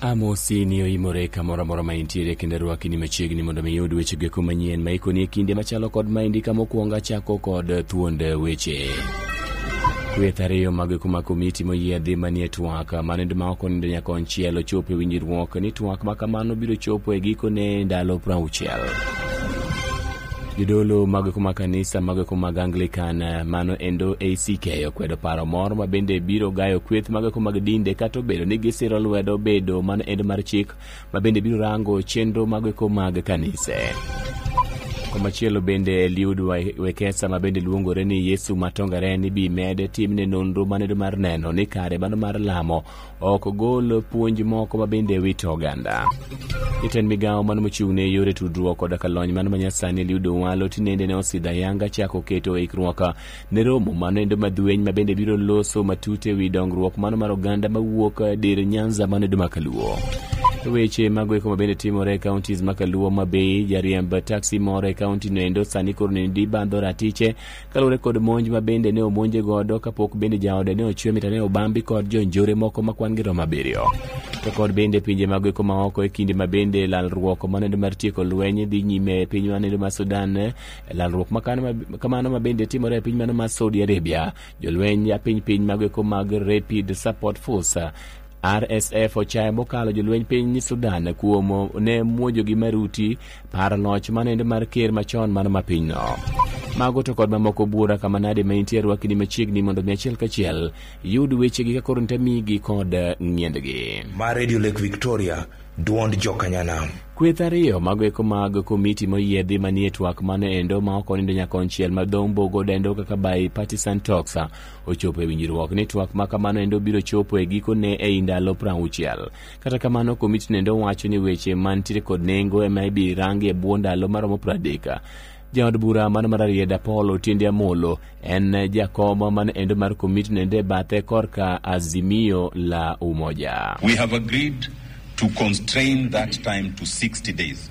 Amosi ni oimore kamoro amora ma intiere kendo rwaki ni machiegni mondo mi iyud weche geko manyien ma ikoni e kinde machalo kod ma indika mokwongo achako kod thuond weche. Kweth ariyo mag kuma komiti moyiedhi manie twak manindo ma ok onindo nyaka onchiel ochopo e winjruok ni twak ma kamano biro chopo e gikone ndalo prauchiel. jodolo mag kuma kanisa mag kuma Anglican eh, mano endo ACK okwedo paro moro ma bende biro gayo kweth mag kuma dinde kata obedo ni gisiro lwedo bedo mano endo mar chik ma bende biro rango chenro mag kuma kanise komachielo bende Eliud Wa- Wekesa ma bende luongore ni Yesu Matongaren ibi med timne nonro manedo mar neno ni kare mano mar lamo ok gol puonj moko ma bende wito oganda. Jatend migawo mano mochung' ne yore tudruok koda ka lony mano manyasani Eliud Owalo tinende ne osidho ayanga chako keto ikruok ne romo mano endo madueny ma bende biro loso matut e wi dongruok mano mar oganda mawuok dir Nyanza mano endo makaluo. Weche mago eko mabende timore e counties makaluo ma bei jariemb taxi moro e county no endo sani koro nende ibandho ratiche kaluwore kod monj ma bende ne omonje godo kapok bende jaode ne ochwe mita ne obambi kod jonjore moko ma kwan-gi romo abiriyo to kod bende pinje mag eko maoko e kinde ma bende lalruok manendo mar tieko lweny dhi nyime e piny manendo mar sudan e lalruok ma kano ma- kamano ma bende timore e piny mano mar saudi arabia jolweny a piny piny mag eko mag rapid support force RSF ochayo mokalo jolweny piny Sudan kuom ne muojogi maruti paro loch manende mar ker machon mano ma pinyno. Mago to kod mamoko bura kama nade ma intie rwakni machiegni mondo mi achiel kachiel yud wechegi ka koro ntamigi kod ng'iendgi. Mar Radio Lake Victoria, duond jokanyanam. Kweth ariyo mago eko mag komiti moyiedhi manie twak mano endo ma ok onindo nyaka konchiel ma dhombogo dendo kaka by partisan talks ochopo e winjruok ni twak ma kamano endo biro chopo e gikone ei ndalo prauchiel kata kamano komiti nendo wacho ni weche mantiere kod nengo ema ibi rangi e bwo ndalo maromo pradeka jaod bura man mar arieda paul otiende amolo en jakom man endo mar komiti nende bathe korka azimio la umoja We have agreed to constrain that time to 60 days.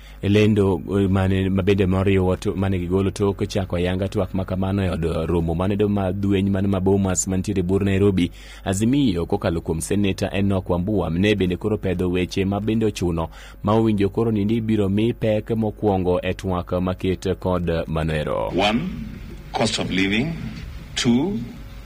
e lendo eh, mane mabende moriwo to- mane gigolo tok chako ayanga twak ma kamano e od romo mane do ma dueny mane ma Bomas mantiere bur Nairobi Azimio kokalo kuom seneta Enoch Wambua ne bende koro pedho weche ma bende ochuno ma owinjo koro ni ni ibiro mi pek mokwongo e twak maket kod manoero One, cost of living. Two,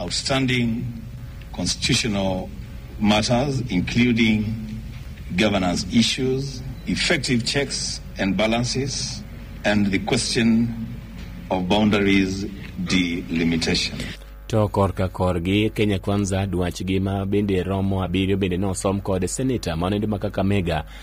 Outstanding constitutional matters including governance issues, effective checks and balances and the question of boundaries delimitation. To korka korgi Kenya Kwanza dwachgi ma bende romo abiriyo bende nosom kod seneta ma nende ma Kakamega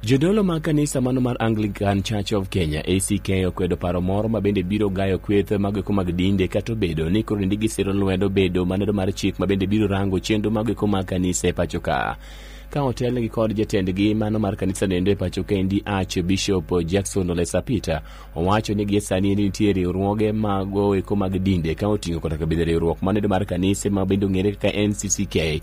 Jodolo mag kanisa mano mar Anglican Church of Kenya ACK okwedo paro moro ma bende biro gayo kweth mag eko mag dinde kata obedo ni koro ndigi siro lwedo bedo maneno mar chik ma bende biro rango chenro mag eko mag kanisa e pacho ka ka otelnegi kod jatendgi mano mar kanisa nendo e pacho kendi ach bishop jackson olesa peter owacho ni gie sani ni nitie riwruoge mago eko mag dinde ka oting'o kata kabedhe riwruok manendo mar kanise ma bende ong'ere kaka ncck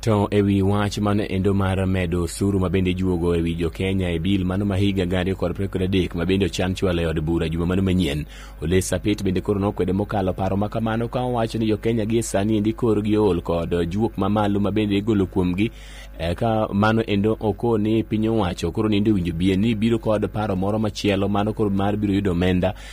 To e wi wach mano endo mar medo osuru ma bende ijuogo e wi jo Kenya e bil mano ma higa gari ariyo kod apar kod adek ma bende ochan chwalo e od bura juma mano manyien. Ole Sapit bende koro nokwede mokalo paro ma kamano ka owacho ni jo Kenya gie sani endi kor gi ol kod juok ma malo ma bende igolo kuomgi e, ka mano endo oko ni piny owacho koro nindo winjo bie ni biro kod paro moro machielo mano koro mar biro yudo omenda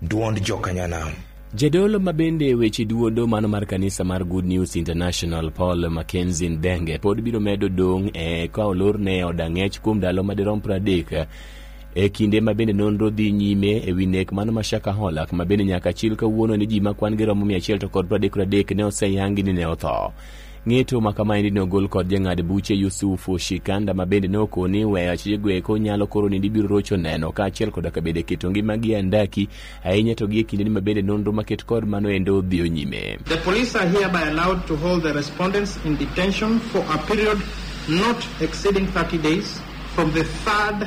Duond Jokanyanam. Jadolo ma bende weche duodo mano mar kanisa mar Good News International Paul Mackenzie Ndenge pod biro medo dong' e ka olorne od ang'ech kuom ndalo madirom pradek e kinde ma bende nonro dhi nyime e wi nek mano ma Shaka Holak ma bende nyaka chil kawuono ni ji ma kwan-gi romo 100 to kod pradek pradek ne oseyangi ni ne otho. Ng'eto ma kamaendi ne ogol kod jang'ad buche Yusufu Shikanda ma bende ne okoni ni weyo achijego eko nyalo koro ni ibiro rocho neno kaachiel koda ka bende keto ngimagi e andaki ahinya to gi e kindeni ma bende nonro maket kod mano endo dhiyo nyime. The police are hereby allowed to hold the respondents in detention for a period not exceeding 30 days from the third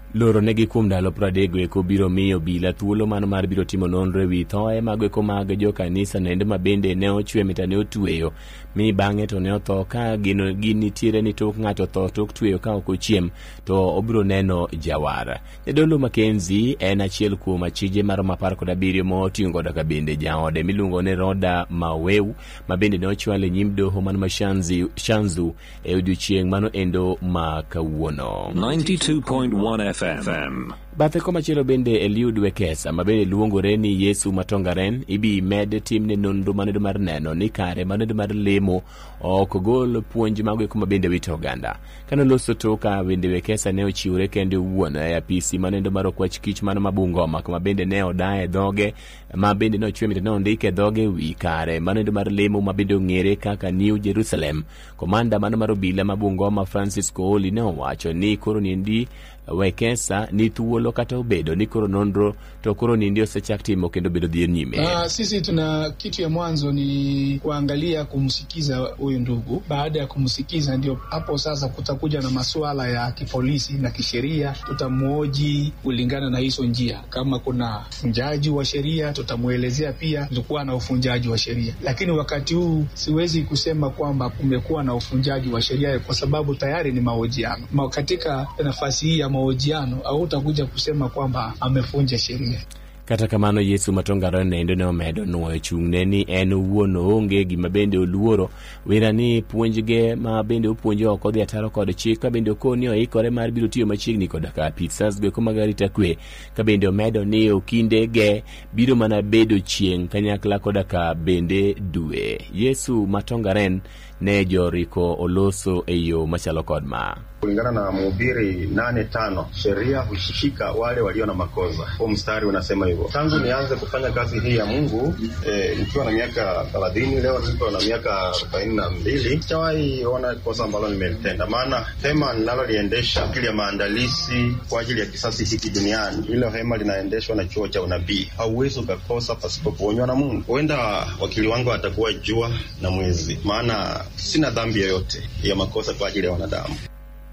Loro negi kuom ndalo pradego eko biro miyo bila thuolo mano mar biro timo nonro e wi thoe mago eko mag jo kanisa nende ma bende ne ochwe mita ne otweyo mi bang'e to ne otho ka gino gi nitiere ni tok ng'ato tho tok tweyo ka ok ochiem to obiro neno jawar jadolo makenzi en achiel kuom achije mar mapar kod abiriyo ma oting'o koda ka bende jaode miluongo ni roda maweu ma bende ne ochwal e nyim doho man ma shanzi, shanzu e odiochieng' mano endo ma kawuono 92.1 FM. bathe komachielo bende eliud wekesa ma bende luongore ni yesu matongaren ibi med timne nonro manedo mar neno ni kare manedo mar lemo ok gol puonj mago eko ma bende wito oganda kane loso toka bende wekesa ne ochiwore kende owuon e apisi manedo mar okwach kich mano ma bungoma kama bende ne odaye dhoge ma bende nochwe mita nondik e dhoge wi kare manendo mar lemo ma bende ong'ere kaka new jerusalem komanda mano mar obila ma bungoma francis kooli ne owacho ni koro niendi wekesa ni thuolo kata obedo ni koro nonro to koro niendi osechak timo kendo bedo dhi nyime Ah, sisi tuna kitu ya mwanzo ni kuangalia kumsikiza huyu ndugu. Baada ya kumsikiza, ndio hapo sasa kutakuja na masuala ya kipolisi na kisheria, tutamwoji kulingana na hizo njia, kama kuna Mvunjaji wa sheria tutamwelezea pia kulikuwa na uvunjaji wa sheria, lakini wakati huu siwezi kusema kwamba kumekuwa na uvunjaji wa sheria kwa sababu tayari ni mahojiano. Ma katika nafasi hii ya mahojiano hautakuja kusema kwamba amevunja sheria. kata kamano yesu matongaro nendo ne omedo nwoyo chung'ne ni en owuon oonge gima bende oluoro wira ni puonjge ma bende opuonjo ok odhi ataro kod chik ka bende okoni oikore mar biro tiyo machiegni koda ka apit sas goeko mag arita kwe ka bende omedo ni okinde ge biro mana bedo chieng' kanyakla koda ka bende dwe yesu matongaren ne joriko oloso e yo machalo kod ma kulingana na Mhubiri nane tano sheria hushika wale walio na makosa. Huu mstari unasema hivyo. Tangu nianze kufanya kazi hii ya Mungu eh, nikiwa na miaka thelathini, leo niko na miaka arobaini na mbili, sijawahi ona kosa ambalo nimelitenda, maana hema ninaloliendesha ajili ya maandalizi kwa ajili ya Kisasi hiki duniani, hilo hema linaendeshwa na chuo cha unabii. Hauwezi ukakosa pasipo kuonywa na Mungu. Huenda wakili wangu atakuwa jua na mwezi, maana sina dhambi yoyote ya makosa kwa ajili ya wanadamu.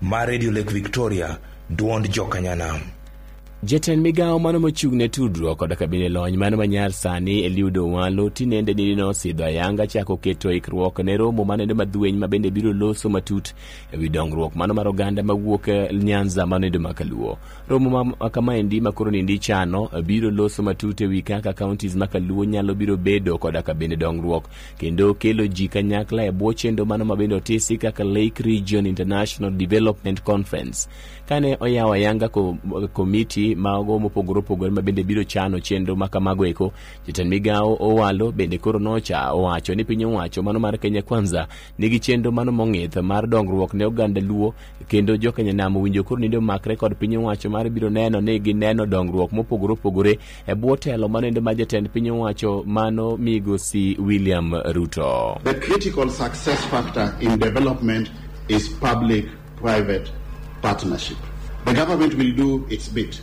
ma radio lake victoria dwond jokanyana Jatend migawo mano mochung' ne tudruok koda kabine lony mano manyar sani Eliud Owalo tinende nidino osidho ayanga chako keto ikruok ne romo manene madhueny mabende biro loso matut e wi dongruok mano mar oganda mawuok e Nyanza mano endo ma Kaluo. Romo ma ma kamaendi ma koro nindi chano eh, biro loso matut e wi kaka counties ma Kaluo nyalo biro bedo koda ka bende dongruok kendo kelo ji kanyakla e bwo chendo mano ma bende otisi kaka Lake Region International Development Conference. Kane oyawo ayanga ko- komiti mago mopogore opogore ma bende biro chano chenro ma kamago eko, jatend migawo Owalo bende koro nocha owacho ni piny owacho mano mar Kenya Kwanza nigi chenro mano mong'ith mar dongruok ne oganda luo kendo jokenya nam owinjo koro nende omakre kod piny owacho mar biro neno ni gineno dongruok mopogore opogore e bwo telo manende ma jatend piny owacho mano migosi william ruto the critical success factor in development is public private partnership the government will do its bit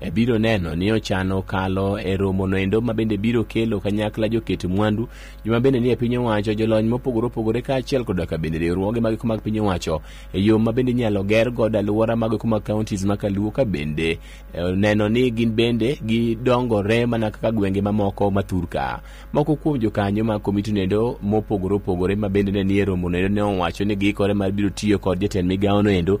e biro neno ni ochano kalo e romo noendo ma bende biro kelo kanyakla joket mwandu joma bende nie piny owacho jolony mopogore opogore kaachiel koda ka bende riwruoge mag mag piny owacho e yo ma bende inyalo ger godo alwora mag kuma counties ma kaluo ka bende eh, neno ni gin bende gidongore mana kaka gwenge mamoko ma thurka moko kuom jokanyo mag komiti noendo mopogore opogore ma bende ne nie romo noendo ne owacho ni giikore mar biro tiyo kod jatend migawo noendo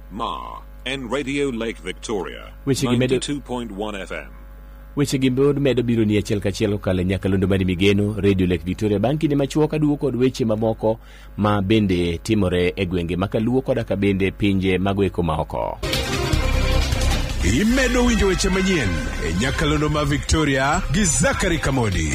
Ma and Radio Lake Victoria. Which you can make it- 92.1 FM. weche gi pod medo biro ni achiel kachiel kokalo e nyakalondo mari migeno radio lake victoria bang' kinde machuok aduwo kod weche mamoko ma bende timore e gwenge ma kaluo koda ka bende pinje mago eko maoko imedo winjo weche manyien e nyakalondo ma victoria gi zakari kamodi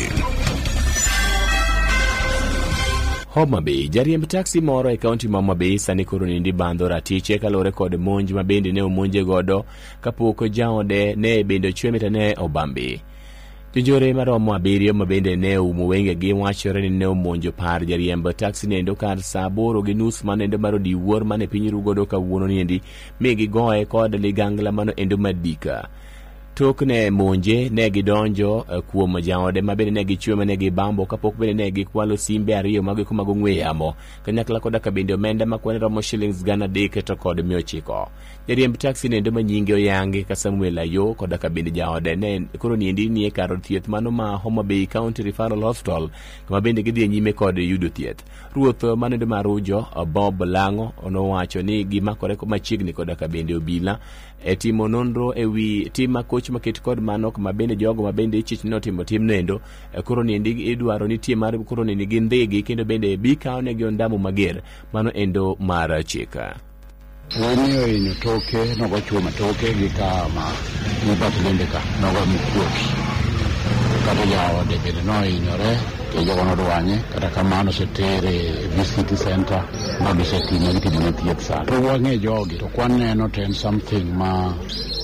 Homa Bay. Jariemb taksi moro e kaunti ma Homa Bay sani koro nindi bandho ratiche kaluwore kod monj ma bende ne omonje godo kapok jaode ne bende ochwe mita ne obambi. Jonjore maromo abiriyo ma bende ne oumo wengegi wachore ni ne omonjo par jariemb taksi nendo kar saa aboro gi nus ma nendo mar odiwuor mane piny rugodo kawuono niendi mi gigoye kod ligangla mano endo madika. Tok ne monje ne gidonjo eh, kuom jaode ma bende ne gichwe ma ne gibambo kapok bende ne gikwalo simbe ariyo mag eko mag ong'we yamo kanyakla koda ka bende omenda ma kwan romo shillings gana adek to kod mia ochiko. Jariemb taksi nendo ma nyinge oyangi ka Samuel Ayo koda ka bende jaode ne koro niendi nie kar od thieth mano ma Homa Bay County Referral Hospital kama bende gidhi e nyime kod yudo thieth. Ruoth ma nendo ma Rujo Bob Lango nowacho ni gimakore machiegni koda ka bende obila e timo nonro e wi tim makoch maket kod mano ma bende jogo ma bende ichich ni otimo tim nendo e koro niendi idwaro ni tie mar koro niendi gi ndhigi kendo bende bikawo ne gi ondamo mager mano endo mar chika Wani ohinyo toke nogo chuo matoke gi ka ma mibati bende ka nogo mikuoki kata jaode bende nohinyore to jogo nodwanye kata kamano osetere VCT center ma gisetime gitimo ne thieth sana to wang'e jogi to kwaneno to en something ma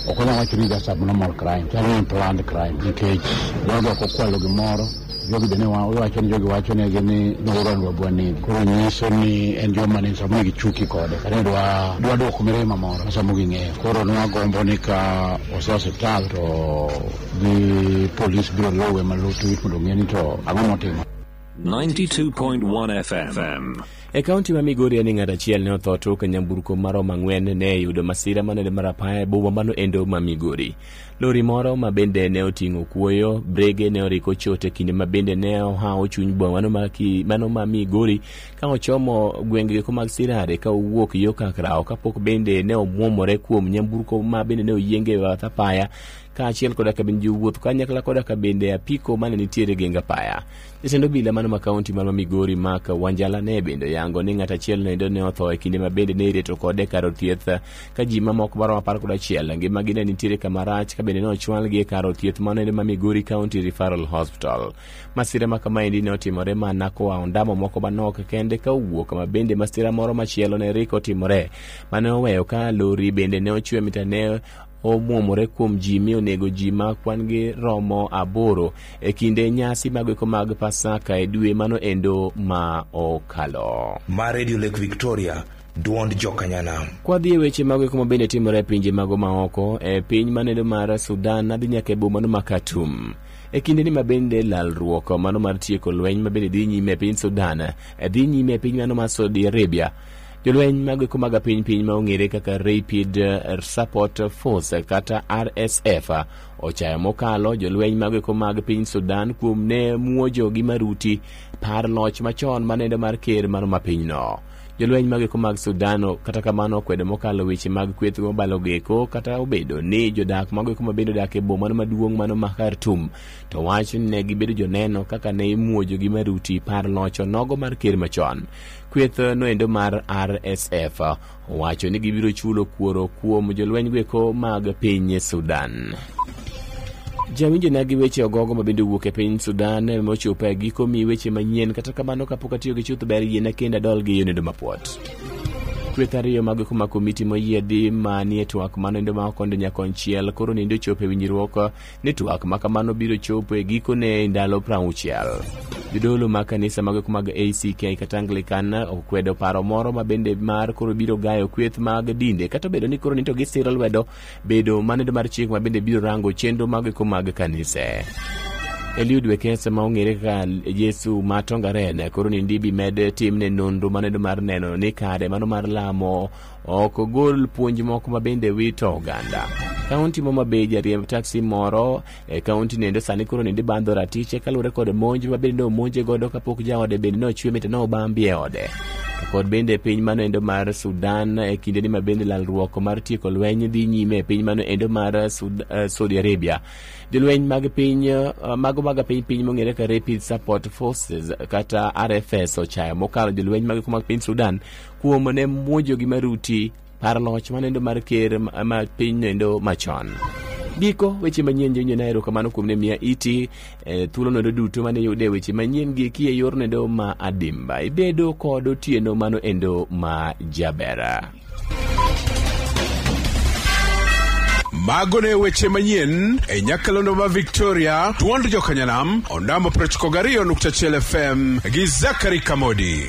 ok wanyal wacho ni just abnormal crime chalo ni planned crime nikech jogo ok okwalo gimoro jogi bende wacho ni jogi wacho ne gi ni nogoran wabwa ni koro nyiso ni en joma ni samo ni gichuki kode kata ni dwa dwa dwoko mirima moro ma samo ging'eyo koro nwagombo ni ka ose osiptal to gi polis biro luwe malutu mondo ong'e ni to ang'o motimo 92.1 FM. E kaunti ma Migori en ng'at achiel ne otho to ka nyamburko marom ang'wen ne yudo masira manade mar apaya e boma mano endo ma Migori. Lori moro ma bende ne oting'o kuoyo, brege ne oriko chote kinde ma bende ne ohawo chuny boma mano ma, ki, mano ma Migori ka ochomo gwenge ko mag Sirare ka owuok yo Kakrawo kapok bende ne omwomore kuom nyamburko ma bende ne oyienge e bath apaya kaachiel koda ka bende jowuoth kanyakla koda ka bende apiko mane nitiere geng apaya. Jatend obila mano ma kaunti mar Migori Mark Wanjala ne bende oyango ni ng'at achiel noendo ne otho e kinde ma bende ne ireto kode kar od thieth ka ji mamoko maromo apar kod achiel ngimagi ne nitiere kama rach ka bende ne ochwalgi e kar od thieth mano endo ma Migori County Referral Hospital. Masira ma kamaendi ne otimore mana koa ondamo moko manok kende ka owuok ma bende masira moro machielo ne riko timore mane oweyo ka lori bende ne ochwe mitane omwomore kuom ji mi onego ji ma kwan-gi romo aboro e kinde nyasi magweko mag Pasaka e dwe mano endo ma okalo. Ma Radio Lake Victoria, dwond jokanyanam. Kwadhi e weche mag ma bende timore e pinje mago maoko e piny manendo mar Sudan adhi nyaka e bomano ma Khartoum e kinde ni mabende lalruok mano mar tieko lweny mabende dhi nyime e piny Sudan dhi nyime e piny mano mar Saudi Arabia Jolweny mag eko mag piny piny ma ong'ere kaka Rapid Support Force kata RSF ochayo mokalo jolweny mag eko mag piny Sudan kuom ne muojo gi maruti par loch machon manende mar ker mar ma pinyno. Jolweny mag eko mag Sudan kata kamano okwedo mokalo weche mag kweth mobalo geko kata obedo ni jodak mag eko mabende odak e boma maduong' mano ma Khartoum to wach ni ne gibedo joneno kaka ne imuojo gi maruti par loch onogo mar ker machon. kweth noendo mar RSF owacho ni gibiro chulo kuoro kuom jolweny gweko mag piny Sudan. Jawinjo na gi weche ogogo ma bende owuok e piny Sudan mochopo e giko mi weche manyien kata kamano kapok atiyo gi chuth ber yiena kendo adol gi yonendo mapuot. Kweth ariyo mag kuma komiti moyiedhi ma nie twak manoendo ma okondo nyakonchiel koro nindo chopo e winjruok ni twak ma kamano biro chopo e gikone e ndalo prauchiel. Jodolo mag kanisa mageko mag ACK kata Anglican okwedo paro moro ma bende mar koro biro gayo kweth mag dinde kata obedo ni koro nito gisiro lwedo bedo manedo mar chik ma bende biro rango chenro mageko mag kanise. Eliud Wekesa ma ong'ere kaka Yesu ma Tongaren koro ni ndibi med timne nonro manedo mar neno ni kare mano mar lamo Ok ogol puonj moko ma bende wito oganda. Kaunti ma Homabay jariemb taksi moro e kaunti nende sani koro nende bandho ratiche kaluwore kod monj ma bende omonje godo kapok jaode bende ne ochwe mite ne obambi e ode. To kod bende e piny mano endo mar Sudan e kinde ni ma bende lalruok mar tieko lweny dhi nyime e piny mano endo mar Sud- eh, Saudi Arabia. Jolweny mag piny eh, mago mag piny piny mong'ere ka Rapid Support Forces kata RFS ochayo mokalo jolweny mag mag piny Sudan kuom ne muojo gi maruti par loch manendo mar ker ma piny nendo machon giko weche manyien jonyo na erokamano kuom ne miya iti e, thuolo nendo duto mane yude weche manyien gi kie yor nendo ma adimba ibedo kod otieno mano endo ma jabera mago ne weche manyien e nyakalondo ma victoria tuond jokanyanam ondamo 92.1 fm gi zakari kamodi